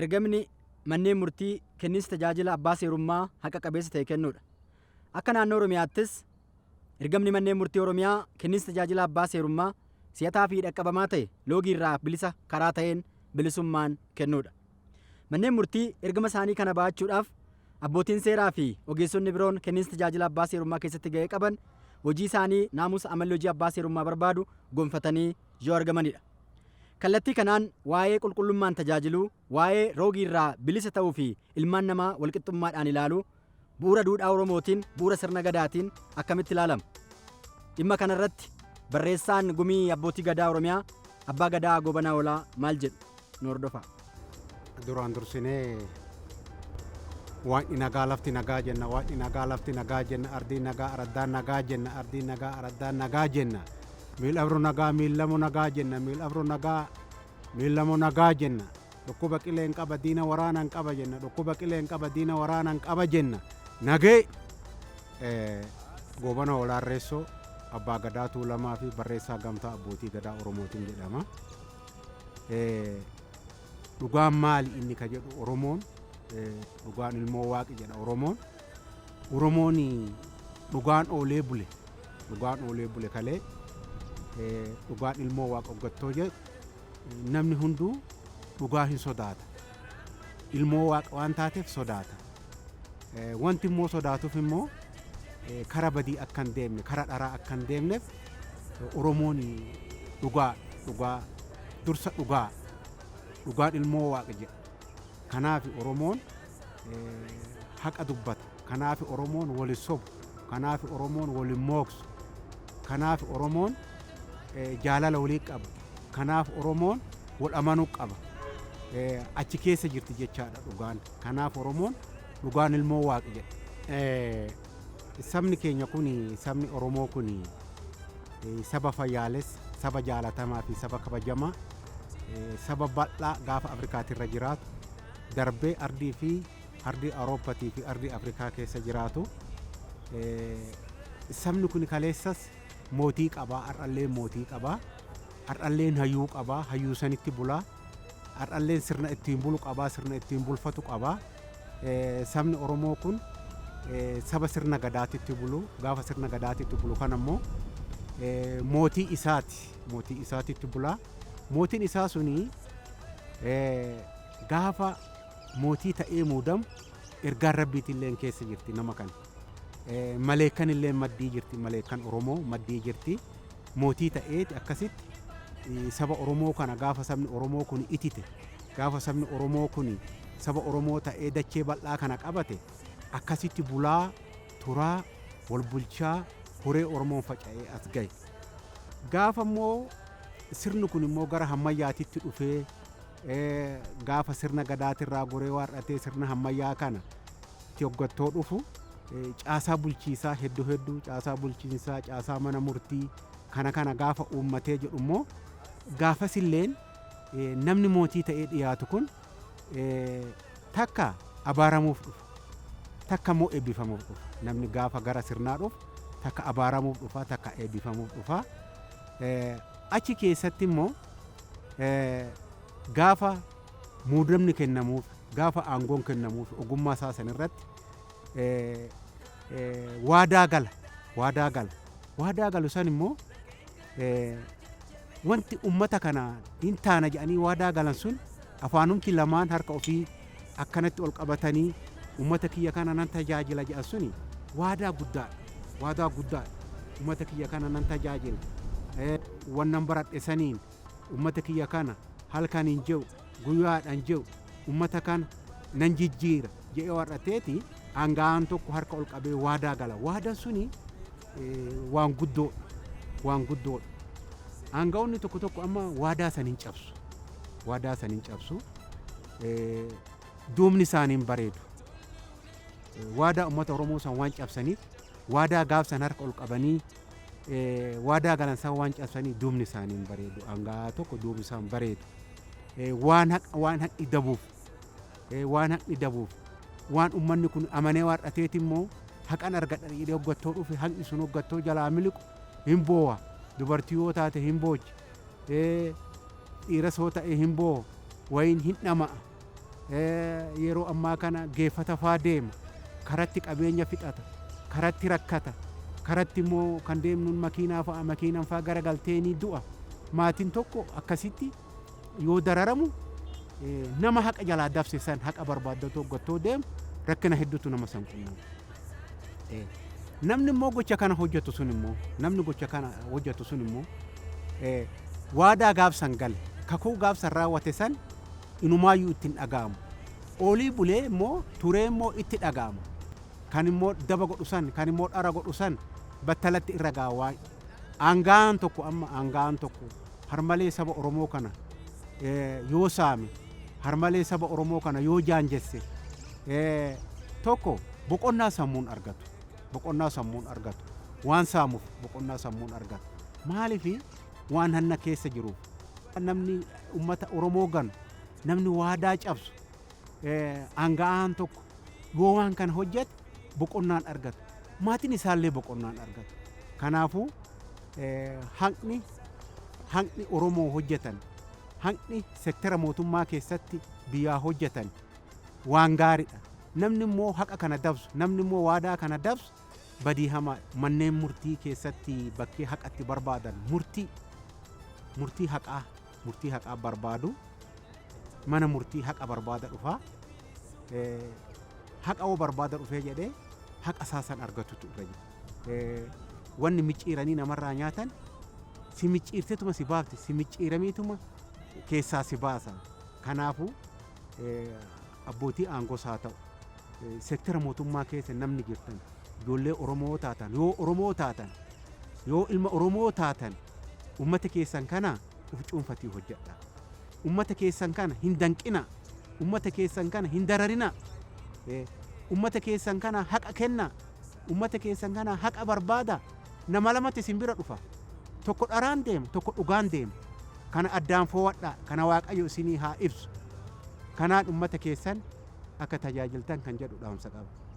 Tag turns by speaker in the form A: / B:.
A: ergamni manneen murtii kenniinsa tajaajila abbaa seerummaa haqa qabeessa ta'e kennuudha. Akka naannoo Oromiyaattis ergamni manneen murtii Oromiyaa kenniinsa tajaajila abbaa seerummaa si'ataa fi dhaqqabamaa ta'e loogii irraa bilisa karaa ta'een bilisummaan kennuudha. Manneen murtii ergama isaanii kana ba'achuudhaaf abbootiin seeraa fi ogeessonni biroon kenniinsa tajaajila abbaa seerummaa keessatti ga'ee qaban hojii isaanii naamusa amalli hojii abbaa seerummaa barbaadu gonfatanii yoo argamanidha. Kallattii kanaan waa'ee qulqullummaan tajaajiluu, waa'ee roogiirraa bilisa ta'uu fi ilmaan namaa walqixxummaadhaan ilaaluu bu'uura duudhaa Oromootiin, bu'uura sirna Gadaatiin akkamitti ilaalama? Dhimma kana irratti barreessaan Gumii Abbootii Gadaa Oromiyaa Abbaa Gadaa Goobanaa Oolaa maal jedhu? Nu hordofaa. Duraan
B: dursinee Waaqni nagaa lafti nagaa jenna, Waaqni nagaa lafti nagaa jenna, ardiin nagaa araddaan nagaa jenna, ardiin nagaa araddaan nagaa jenna, miil abru nagaa miillamu nagaa jenna, miil abru nagaa miillamu nagaa jenna. Dhukkuba qileen qaba diina waraanan qaba jenna dhukkuba qileen qaba diina waraanan qaba jenna nagee eh, goobana olaarreessoo abbaa gadaa tuulamaa fi barreessaa gamtaa abbootii gadaa oromootiin jedhama Eh, dhugaan maali inni ka jedhu oromoon eh, dhugaan ilmoo waaqi jedha oromoon oromoon dhugaan oolee bule dhugaan oolee bule kalee eh, dhugaan ilmoo waaqa oggattoo jedhu Namni hunduu dhugaa hin sodaata. Ilmoo waaqa waan taateef sodaata. Wanti immoo sodaatuuf immoo kara badii akka hin deemne, kara dharaa akka hin deemneef Oromoon dhugaa, dhugaa, dursa dhugaa, dhugaan ilmoo waaqa jedha. Kanaafi Oromoon haqa dubbata. Kanaafi Oromoon wal hin sobu. Kanaafi Oromoon wal hin mooksu. Kanaafi Oromoon jaalala walii qaba. Kanaaf Oromoon wal amanuu qaba. Achi keessa jirti jechaadha dhugaan. Kanaaf Oromoon dhugaan ilmoo Waaqi jedha. Sabni keenya kun sabni Oromoo kun saba fayyaalessa, saba jaalatamaa fi saba kabajamaa saba bal'aa gaafa Afrikaati irra jiraatu darbee ardii fi ardii Awurooppaatii fi ardii Afrikaa keessa jiraatu. Sabni kun kaleessas mootii qabaa, har'allee mootii qabaa, har'allee hayyuu qabaa, hayyuu sanitti bulaa. Har'alleen sirna ittiin bulu qaba, sirna ittiin bulfatu qaba. Sabni Oromoo kun saba sirna gadaatitti bulu. Gaafa sirna gadaatitti bulu kana immoo mootii isaati. Mootii isaatitti bula. Mootiin isaa suni gaafa mootii ta'ee muudamu ergaan rabbiitillee keessa jirti nama kana. Maleekkan illeen maddii jirti, maleekkan Oromoo maddii jirti. Mootii ta'eeti akkasitti saba Oromoo kana gaafa sabni Oromoo kuni itite, gaafa sabni Oromoo kuni saba Oromoo ta'ee dachee bal'aa kana qabate akkasitti bulaa, turaa, wal bulchaa, horee Oromoon faca'ee as gahe. Gaafa immoo sirni kun immoo gara hammayyaatitti dhufee gaafa sirna Gadaatirraa goree waar'atee sirna hammayyaa kana tti hoggattoo dhufu caasaa bulchiisaa heddu heddu caasaa bulchiinsaa caasaa mana murtii kana kana gaafa uummatee jedhu immoo gaafas illeen namni mootii ta'ee dhiyaatu kun takka abaaramuuf dhufa takka immoo eebbifamuuf dhufa namni gaafa gara sirnaa dhufu takka abaaramuuf dhufa takka eebbifamuuf dhufa achi keessatti immoo gaafa muudamni kennamuuf gaafa aangoon kennamuuf ogummaa isaa san irratti waadaa gala waadaa gala waadaa galu san immoo wanti ummata kana hin taana jedhanii waadaa galan sun afaanumti lamaan harka ofii akkanatti ol qabatanii ummata kiyya kana nan tajaajila jedhan suni waadaa guddaadha waadaa guddaadha ummata kiyya kana nan tajaajila wannan baradhe saniin Ummata kiyya kana halkan hin je'u, guya'aadha hin je'u, ummata kana nan jijjiira je'ee waadhateeti aanga'aan tokko harka ol qabee waadaa gala. Waadaan suni waan guddoodha. Waan guddoodha. Aanga'oonni tokko tokko amma waadaa san hin cabsu. Waadaa san hin cabsu. Duubni isaanii hin bareedu. Waadaa ummata Oromoo san waan cabsaniif waadaa gaaf san harka ol qabanii waadaa galan san waan cabsanii duubni isaanii hin bareedu hangaa tokko duubni isaan bareedu waan waan haqni dabuuf waan haqni dabuuf waan ummanni kun amanee waar'ateeti immoo haqan argadha jedhee hoggattoo dhufe haqni sun hoggattoo jalaa miliqu hin boowa dubartii yoo taate hin boochi dhiiras yoo ta'e hin boowa wayiin hin dhama'a yeroo ammaa kana geeffata faa deema karatti qabeenya fixata karatti rakkata karatti immoo kan deemnuun makiinaa fa'a makiinan faa gara galteenii du'a maatiin tokko akkasitti yoo dararamu nama haqa jalaa dabse san haqa barbaaddatu hoggattoo deemu rakkina hedduutu nama san qunnama. Namni immoo gocha kana hojjetu sun immoo namni gocha kana hojjetu sun immoo waadaa gaafsan gale kakuu gaafsan raawwate san inumaayyuu itti hin dhaga'amu. Oolii bulee immoo turee immoo itti dhaga'ama. Kan immoo daba godhu san kan immoo dhara godhu san battalatti irra ga'a waan aanga'aan tokko amma aanga'aan tokko harmalee saba Oromoo kana yoo saame, harmalee saba Oromoo kana yoo jaanjesse, tokko boqonnaa sammuun argatu. Boqonnaa sammuun argatu. Waan saamuuf boqonnaa sammuun argatu. Maaliif waan hanna keessa jiruuf. Namni ummata Oromoo ganu, namni waadaa cabsu, aanga'aan tokko yoo waan kana hojjate boqonnaan argata. Maatiin isaallee boqonnaan argatu. Kanaafuu haqni haqni Oromoo hojjetan haqni sektera mootummaa keessatti biyyaa hojjetan waan gaariidha. Namni immoo haqa kana dabsu namni immoo waadaa kana dabsu badii hamaa manneen murtii keessatti bakkee haqatti barbaadan murtii murtii haqaa murtii haqaa barbaadu mana murtii haqa barbaada dhufaa eh, haqa oo barbaada dhufee jedhee haqa isaa san argatutu irra jira. Eh, Wanni micciiranii namarraa nyaatan si micciirtetuma si baafti si micciiramiituma keessaa si baasa. Kanaafuu eh, Abbootii aangoos haa ta'u sektera mootummaa keessa namni jirtan ijoollee Oromoo yoo taatan yoo Oromoo taatan yoo ilma Oromoo taatan ummata keessan kana uf cuunfatii hojjedha. Ummata keessan kana hin danqina. Ummata keessan kana hin dararina. Ummata keessan kana haqa kenna. Ummata keessan kana haqa barbaada? Nama lamatti isin bira dhufa. Tokko dharaan deema, tokko dhugaan deema. Kana addaan foo'adhaa, kana Waaqayyo isinii haa ibsu. Kanaan ummata keessan akka tajaajiltan kan jedhu dhaamsa qaba.